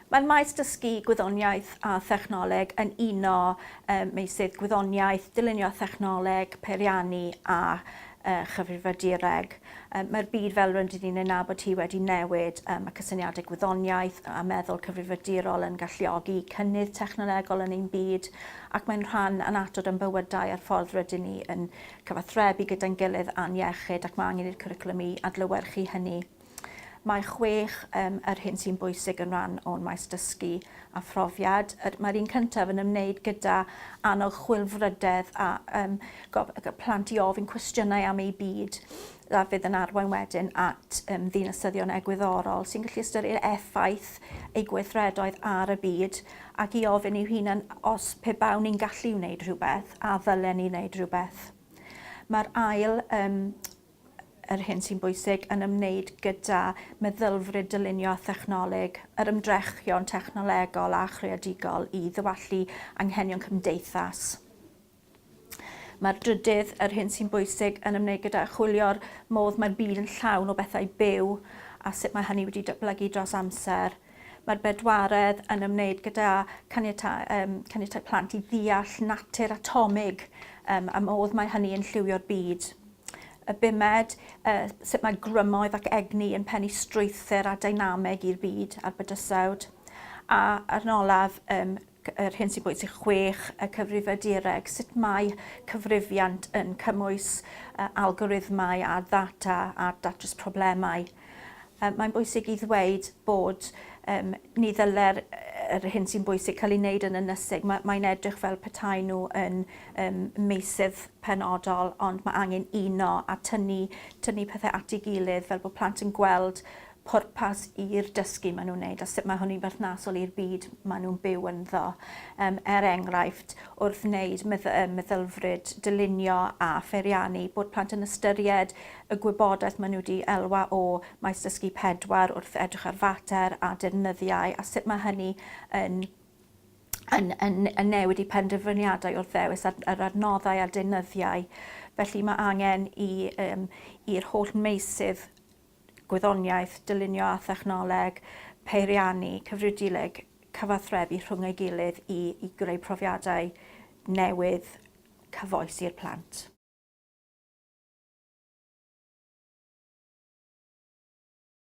Mae'r maes dysgu Gwyddoniaeth a Thechnoleg yn uno meysydd Gwyddoniaeth, Dylunio a Thechnoleg, Peiriannu a Chyfrifiadureg. Mae'r byd fel rydyn ni'n ei nabod hi wedi newid. Mae cysyniadau gwyddoniaeth a meddwl cyfrifiadurol yn galluogi cynnydd technolegol yn ein byd ac mae'n rhan annatod o'n bywydau a'r ffordd rydyn ni yn cyfathrebu gyda'n gilydd a'n iechyd ac mae angen i'r cwricwlwm i adlewyrchu hynny. Mae chwech um, yr hyn sy'n bwysig yn rhan o'n maes dysgu a phrofiad. Er, Mae'r un cyntaf yn ymwneud gyda annog chwilfrydedd a um, plant i ofyn cwestiynau am eu byd a fydd yn arwain wedyn at um, ddinasyddion egwyddorol sy'n gallu ystyried effaith ei gweithredoedd ar y byd ac i ofyn i'w hunan os pe bawn ni'n gallu wneud rhywbeth a ddylen ni wneud rhywbeth. Mae'r ail um, yr hyn sy'n bwysig yn ymwneud gyda meddylfryd dylunio a thechnoleg, yr ymdrechion technolegol a chreadigol i ddywallu anghenion cymdeithas. Mae'r drydydd, yr hyn sy'n bwysig, yn ymwneud gyda chwilio'r modd mae'r byd yn llawn o bethau byw a sut mae hynny wedi datblygu dros amser. Mae'r bedwaredd yn ymwneud gyda caniatau, um, caniatau plant i ddeall natur atomig um, a modd mae hynny yn lliwio'r byd y bumed, uh, sut mae grymoedd ac egni yn pennu strwythyr a dynameg i'r byd a'r bydysawd. A ar yn olaf, um, yr hyn sy'n bwysig, chwech, y cyfrifiadureg, sut mae cyfrifiant yn cymwys algorithmau a ddata a datrys problemau. Mae'n bwysig i ddweud bod um, ni ddyle'r yr hyn sy'n bwysig cael ei wneud yn ynysig. Mae, mae'n edrych fel petai nhw yn um, meysydd penodol, ond mae angen uno a tynnu, tynnu pethau at ei gilydd fel bod plant yn gweld pwrpas i'r dysgu maen nhw'n wneud a sut mae hynny'n berthnasol i'r byd maen nhw'n byw ynddo. Yym, er enghraifft, wrth wneud medd yy meddylfryd dylunio a pheiriannu, bod plant yn ystyried y gwybodaeth maen nhw wedi elwa o Maes Dysgu Pedwar wrth edrych ar fater a defnyddiau a sut mae hynny yn yn, yn, yn newid eu penderfyniadau wrth ddewis ar, yr adnoddau a deunyddiau. Felly mae angen i, um, i'r holl meysydd gwyddoniaeth, dylunio a thechnoleg, peiriannu, cyfrifiaduleg, cyfathrebu rhwng ei gilydd i i greu profiadau newydd cyfoes i'r plant.